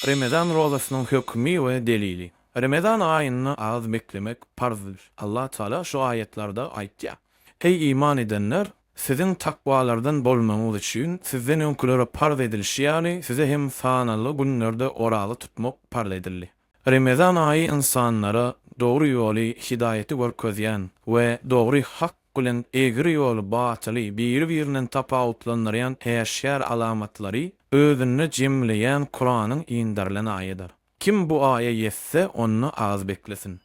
Remezan rozasynyň hökmi we delili. Remezan aýynda az beklemek parzdyr. Allah Tagala şu aýatlarda aýtýar, Eý iman edenler! Siziň takwalardan bolmagyňyz üçin sizden öňkülere parz edilişi ýaly, size hem sanaly günlerde oraza tutmak parz edildi. Remezan aýy ynsanlara dogry ýoly, hidaýaty görkezýän we dogry, hak, bilen egri ýoly, batyly, biri-birinden tapawutlandyrýan äşgär alamatlary özünde jemleýän Kuranyň inderilen aýydyr. Kim bu aýa ýetse, onda az beklesin.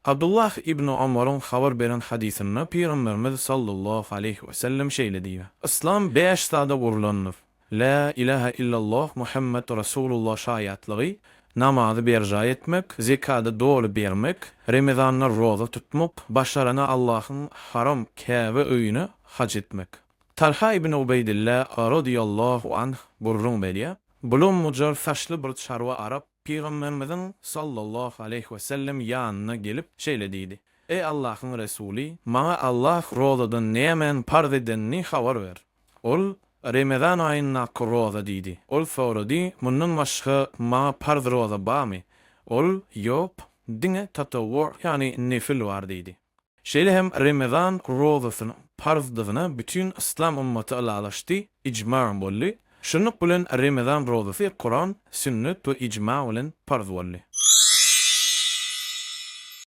Abdullah ibn Omaryň habar beren hadysynda Pygamberimiz sallallahu aleýhi wesellem şeýle diýýär, Yslam bäş zada gurlandyr, Lä ilähä illalloh Muhammet Rasulullah şaýatlygy, namazy berjaý etmek, zekady doly bermek, remezanda roza tutmak, başarana Allahyň haram Käbe öýüne haj etmek. Talha ibn Ubeýdillah radiyallahu anh gürrüň berýär, Bulam mujar saçly bir çarwa arap Pygamberimiziň sallallahu aleýhi we sellem ýanyna gelip şeýle diýdi, Eý Allahyň Resuly, maňa Allah rozadan nämän parz edenini habar ber. Ol, Remezan aýyndaky roza diýdi. Ol sorady, Mundan başga maňa parz roza barmy? Ol, Ýok, diňe tatawwu, ýagny nefil bar diýdi. Şeýle hem Remezan rozasynyň parzdygyna bütin yslam ymmaty ylalaşdy, ijma boldy. Şunluk bilen Remezan rozasy Kuran, Sünnet we ijma bilen parz boldy.